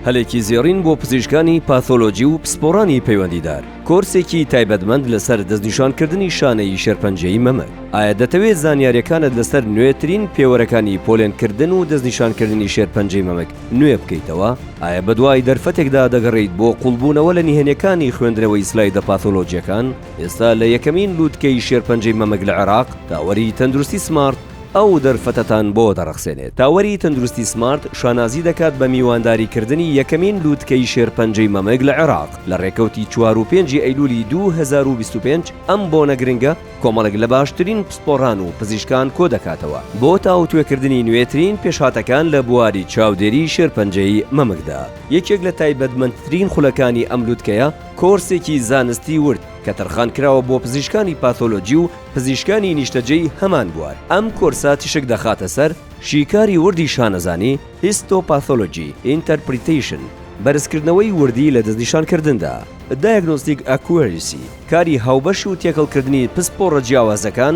هەلێکی زێڕین بۆ پزیشکانی پاثۆلۆجی و پسپۆڕانی پەیوەندیدار کۆرسێکی تایبەتمەند لەسەر دەستنیشانکردنی شانەی شێرپەنجەی مەمک ئایا دەتەوێت زانیاریەکانت لەسەر نوێترین پێوەرەکانی پۆلێنکردن و دەستنیشانکردنی شێرپەنجەی مەمک نوێ بکەیتەوە ئایا بەدوای دەرفەتێکدا دەگەڕێیت بۆ قوڵبوونەوە لە نهێنیەکانی خوێندنەوەی سلایدە پاثۆلۆجیەکان ئێستا لە یەکەمین لووتکەی شێرپەنجەی مەمک لە عێراق تاوەری تەندروستی سمارت ئەو دەرفەتەتان بۆ دەڕەخسێنێت. تاوەری تەندروستی سمارت شانازی دەکات بە میوانداریکردنی یەکەمین لووتکەی شێرپەنجەی مەمک لە عێراق لە ڕێکەوتی چوار و پێنجی ئەیلوولی دوو هەزار و بیست و پێنج، ئەم بۆنە گرنگە کۆمەڵێک لە باشترین پسپۆڕان و پزیشکان کۆدەکاتەوە بۆ تاوتوێکردنی نوێترین پێشهاتەکان لە بواری چاودێری شێرپەنجەی مەمکدا. یەکێک لە تایبەتمەندترین خولەکانی ئەم لووتکەیە کۆرسێکی زانستی ورد کە تەرخانکراوە بۆ پزیشکانی پاثۆلۆجی و پزیشکانی نیشتەجێی هەمان بوار ئەم کۆرسە تیشک دەخاتە سەر شیکاری وردی شانەزانی، Histopathology Interpretation، بەرزکردنەوەی وردی لە دەستنیشانکردندا، Diagnostic Accuracy، کاری هاوبەش و تێکەڵکردنی پسپۆڕە جیاوازەکان،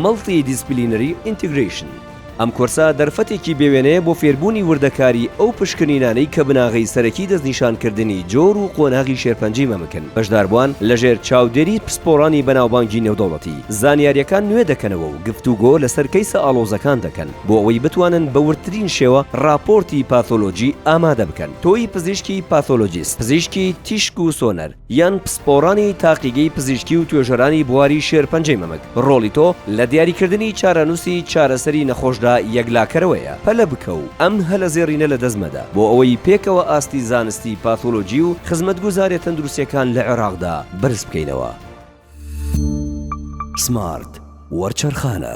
Multidisciplinary Integration. ئەم کۆرسە دەرفەتێکی بێوێنەیە بۆ فێربوونی وردەکاری ئەو پشکنینانەی کە بناغەی سەرەکی دەستنیشانکردنی جۆر و قۆناغی شێرپەنجەی مەمکن. بەشداربووان لەژێر چاودێری پسپۆڕانی بەناوبانگی نێودەوڵەتی، زانیارییەکان نوێ دەکەنەوە و گفتوگۆ لەسەر کەیسە ئاڵۆزەکان دەکەن بۆ ئەوەی بتوانن بە وردترین شێوە ڕاپۆرتی پاثۆلۆجی ئامادە بکەن. تۆیی پزیشکی پاثۆلۆجیست، پزیشکی تیشک و سۆنەر، یان پسپۆڕانی تاقیگەی پزیشکی و توێژەرانی بواری شێرپەنجەی مەمک، ڕۆڵی تۆ لە دیاریکردنی چارەنووسی چارەسەری نەخۆشدا یەکلاکەرەوەیە، پەلە بکە و ئەم هەلە زێڕینە لەدەست مەدە، بۆ ئەوەی پێکەوە ئاستی زانستی پاثۆلۆجی و خزمەتگوزاریە تەندروستیەکان لە عێراقدا بەرز بکەینەوە. سمارت وەرچەرخانە.